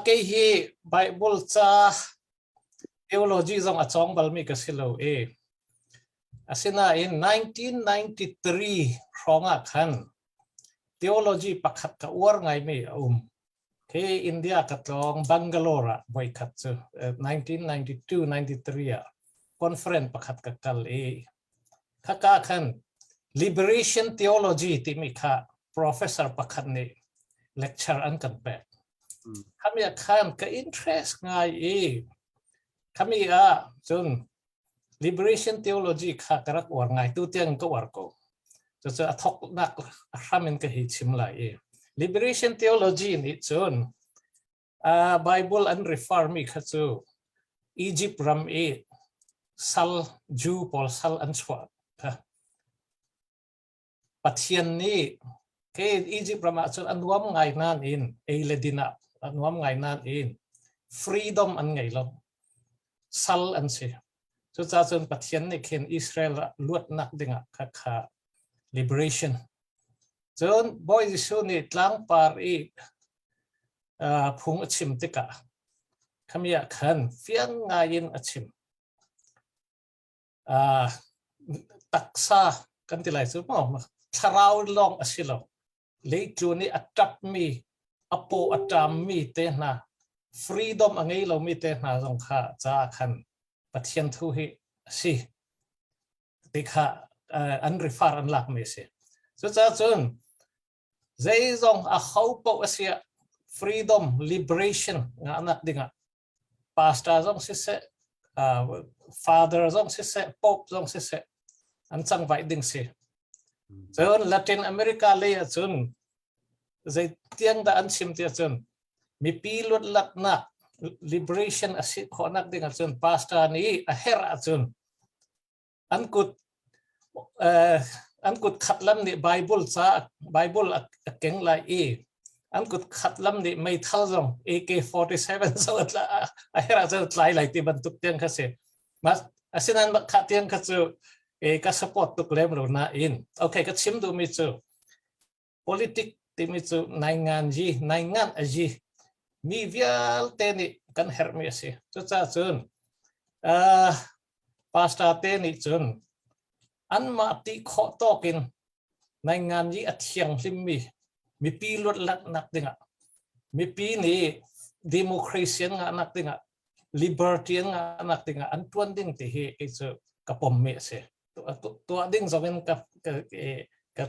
Kei hi Baibal ca theology zong a cawng balmi ka si lo i asinain 1993 hrawng ah khan theology pakhat ka uar ngaimi a um. Khi India ka tlawng Bangalore ah voikhat cu 1992-93 ah conference pakhat ka kal i Khaka khan Liberation Theology timi kha professor pakhat nih lecture an kan pek. Khami ah khan ka interest ngai i khami ah cun Liberation Theology kha ka rak uar ngai tu tiang ka uar ko. Cucu a thoknak a hram in ka hi chim lai i Liberation Theology nih cun uh, Bible an refer mi kha cu Egypt ram i sal Jew pawl sal an chuah Pathian nih ke Egypt ram ah cun a nuam ngai nan in ei le din ah a nuam ngai nan in freedom an ngei lo Sal an si. Cucaah cun Pathian nih khin Israel ah luatnak dingah khakha liberation. Cun Bawi Jesuh nih tlangpar i uh, phung a chim tikah khami ah khan fiang ngaiin a chim. uh, taksa kan ti lai cu mo thlarau lawng a si lo leitlun nih a tap mi a paw a tam mi te hna freedom a ngei lo mi te hna zong kha ca khan pathian thu hi a si ti kha uh, an rifar an lak mi a si cucacun zeizong a ho poh a sia freedom liberation nga nak dingah pastor zong siseh, father zong siseh, pope zong siseh, an cangvaih ding si. Cun Latin America lei ahcun zei tiang dah an chim ti ahcun mipi luatlatnak liberation a si khawhnak ding ahcun pastor nih a herh ahcun an kut an kut khat lam nih Bible ca Bible a keng lai i an kut khat lam nih meithal zong AK47 so a hera zo tlai lai ti bantuk tiang kha si asinain kha tiang kha cu ka support tuk lem lo na in okay ka chim duhmi cu politic timi cu naingan yi naingan a yi mi vialte nih kan herhmi a si cucahcun uh, pastor te nih cun anmah ti khawh tawk in naingan yi a thianghlimmi mipi luat laknak dingah mipi nih democracy an ngah nak dingah libertarian ngahnak dingah an tuan ding ti hi kei cu ka pommi a si tuah ding zongin ka ka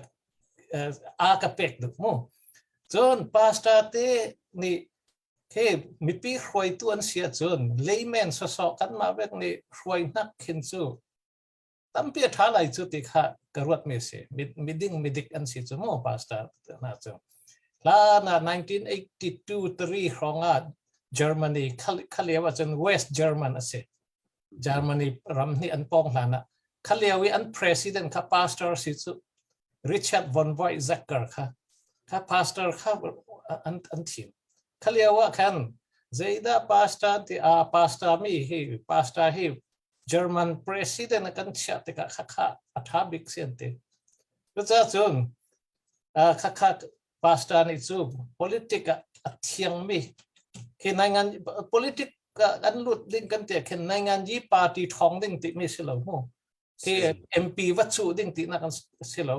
a ka pek duk mu cun pastor te nih he mipi hruaitu an si cun layman sosok kanmah vek nih hruai hnak khin cu tampi a ṭha lai cu ti kha ka ruatmi a si. Miding midik an si cu maw pastor hna cu. Hlan ah 1982-3 hrawng ah Germany khalio ahcun West German a si. Germany ram nih an pawng hlan ah khalio i an president kha pastor si cu Richard von Voigzacker kha kha pastor kha an, an thim. Khalio ah khan zeidah pastor tiah pastor mi hi pastor hi German president a kan chiah tikah khakha a tha bik si an ti. Cucahcun khakha pastor nih cu politic ah a thiangmi khi nai ngan politic kan lut ding kan tiah khin nai ngan yi party thong ding timi si lo mu. KMP va chuh ding ti nak a si lo.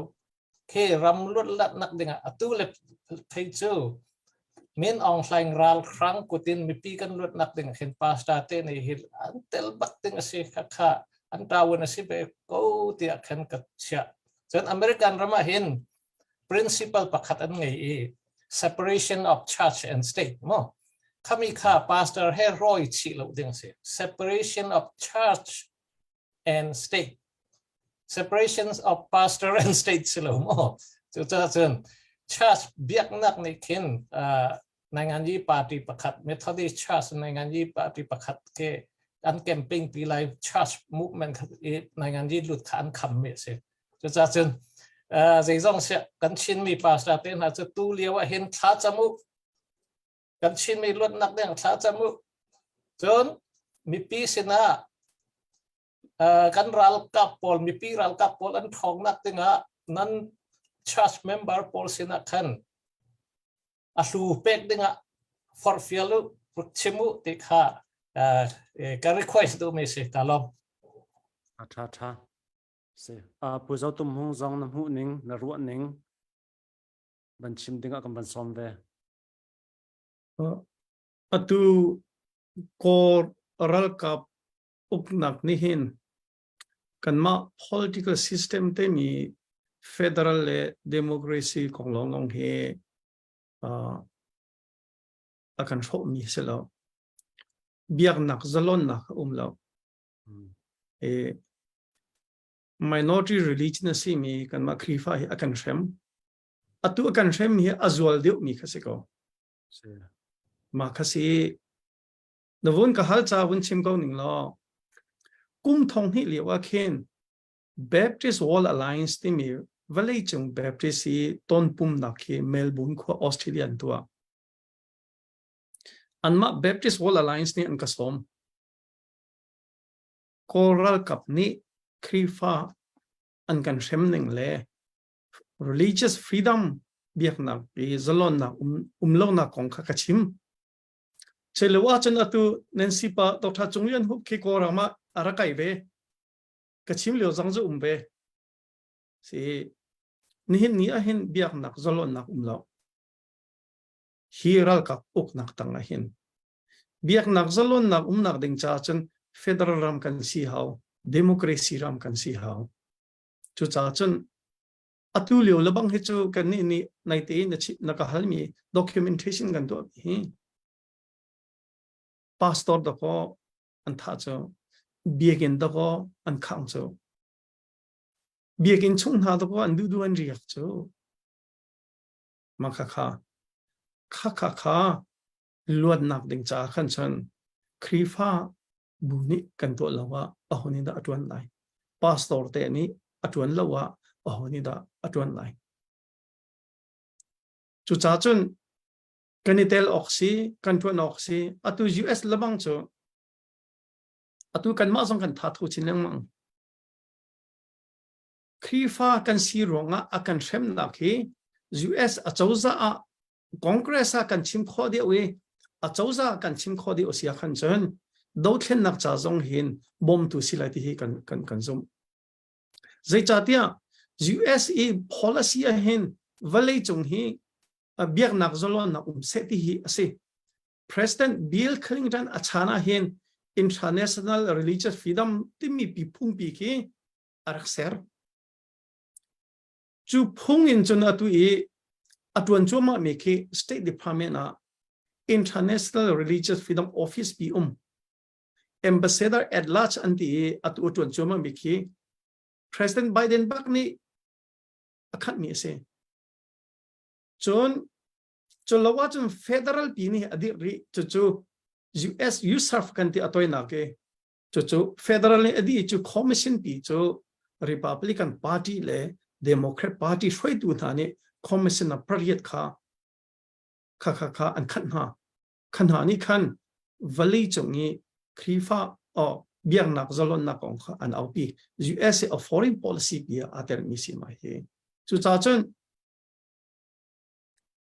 Ke ram luatlat nak dingah atu le thei cu Min Aung Hlaing ral khrang kutin mipi kan luat nak ding khin pasta te nei hi an tel bak ding a si kha kha an tawun a si be ko tia khan ka chia cun American ramah hin principle pakhat an ngei i separation of church and state mo khami kha pastor he roi chi lo ding si separation of church and state. Separations of pastor and state si lo maw? Cucaah cun church biaknak nih khin uh, Nainganyi party pakhat Methodist church Nainganyi party pakhat ke an campaign pi lai church movement khat i Nainganyi lut kha an kham mi si. Cucaah cun uh, zeizong si kan Chinmi pastor te hna cu tu lio ah hin thla camu kan Chinmi luatnak deng thlacam u. Cun mipi sinah kan ralkap pawl mipi ralkap pawl an ṭhawngnak dingah nan church member pawl sinah khan a hlu pek dingah forfial u chim u ti kha ka request duhmi si ta lo a ṭha ṭha si a pu zo tum hung zong na hmuh ning na ruah ning ban chim dingah kan ban sawm ve Atu Kaw ralkap uknak nih hin kanmah political system temi federal le democracy kong lawng hi a kan hrawhmi si lo. Biaknak zalonnak a um lo. Minority religion a simi kanmah Khrihfa hi a kan hrem. Atu a kan hremmi hi a zual deuhmi kha si ko. Si. Mah kha si. Na vun ka hal ca vun chim ko ning law. Kum thong hnih lio ah khin Baptist Wall Alliance timi vawleicung Baptist i ton pumnak khi Melbourne khua Australia an tuah. Anmah Baptist Wall Alliance nih an ka sawm. Kawl ralkap nih Khrihfa an kan hrem ning le religious freedom biaknak i zalonnak um um lonak kong kha ka chim chelo a cun atu nancy pa doctor chung lian hu khi ko rama arakai ve ka chim leo zang zu um ve si nihin ni a hin biaknak zalonnak um lo hi ralkap uknak tang a hin biaknak zalonnak umnak ding cha cun federal ram kan si hau democracy ram kan si hau Cucaah cun atu lio lebang hi cu kan nih nih naite in na ka halmi documentation kan tuahmi hi pastor dako an tha cu biakin dako an khang cu biakin chung hna dako an dudu an riak cu ma kha kha kha kha kha luatnak ding ca khan chun khrifa bu nih kan tuah lo ah aho nih dah a tuan lai pastor te nih a tuan lo ah aho nih dah a tuan lai cuca cun kan i tel awk si kan tuan awk si atu US lamang cu atu kanmah zong kan thathu chin lengmang Khrihfa kan si ruangah a kan hremnak hi US acozah ah Congress ah kan chim khawh deuh i acozah kan chim khawh deuh si khan cun dothlennak ca zong hin bawmtu si lai ti hi kan kan kan zumh zeicahtiah US i policy ah hin vawlei cung hi biaknak zalonnak um se ti hi a si President Bill Clinton a chan ah hin International Religious Freedom timi pi phungpi khi a rak ser. Cu phung in cun atu i a tuan cuahmah mi khi State Department ah International Religious Freedom Office i um Ambassador at large an ti i atu a tuan cuahmah mi khi President Biden bak nih a khat mi a si. Cun cu lo ah cun federal pi nih a dirh rih cucu US Youth Serve kan ti a toinak i Cucu federal in a dih cu commission pi cu Republican party le Democrat party hruaitu hna nih commission a pariat kha kha kha kha an khat hna khan hna nih khan valley cung i Krifa or biaknak zalonnak kong kha an aupi USA a foreign policy bia aa termi si mai hi cucahcun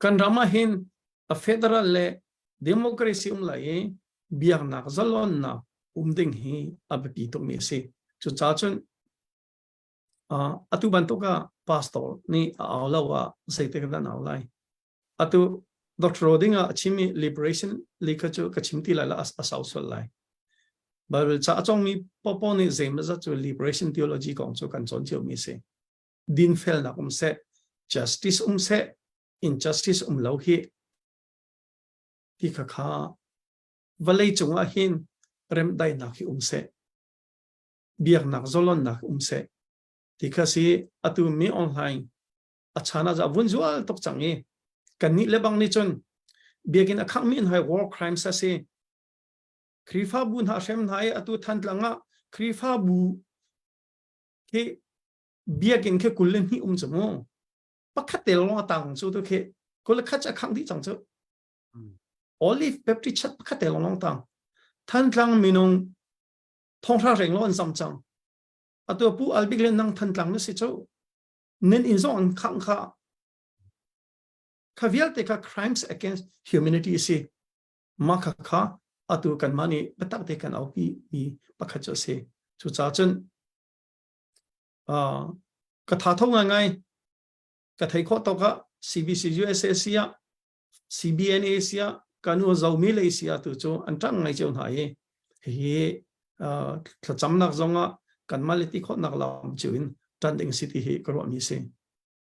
kan ram ah hin a federal le democracy um lai i biaknak zalonnak um ding hi a biapi tukmi a si cu ca cun atu bantuk ah pastor nih a au lo ah zeitik kan au lai atu Dr. Roding ah a chimi liberation likha cu ka chim ti lai la a sau sual lai Bible ca a congmi popo nih zeimazat cu liberation theology kong cu kan cawn cio mi si dinfelnak um seh, justice um seh, injustice um lo hi ti kha kha vawlei cungah hin remdaihnak hi um seh biaknak zolonnak um seh ti kha si atu mi online a chana za vun zual tok chang i kan ni le bang ni chun biakin akhang mi in hai war crimes asi krifa bu na hrem na atu than tlanga krifa bu hi biakinn khi kul le hnih um cu mu pakhat te long atang cu tu khi kul khat cha khang di chang chu olive baptist church pakhat te long long tang thantlang minung thonghra reng lo an sam chang atu pu albik le nang thantlang na si chu nen in zong an khang kha kha vialte kha crimes against humanity si ma kha kha atu kan mani batak te kan aupi mi pakhat chu si chu cha chun uh, ka tha tho ngai ngai ka thei kho to ka CBC USA sia CBNA sia kanu zomi le sia tu chu an tang ngai cheu hna hi hi uh, thlacam nak zonga kan mali ti khot nak lam chu in tan ding city hi ka ro mi si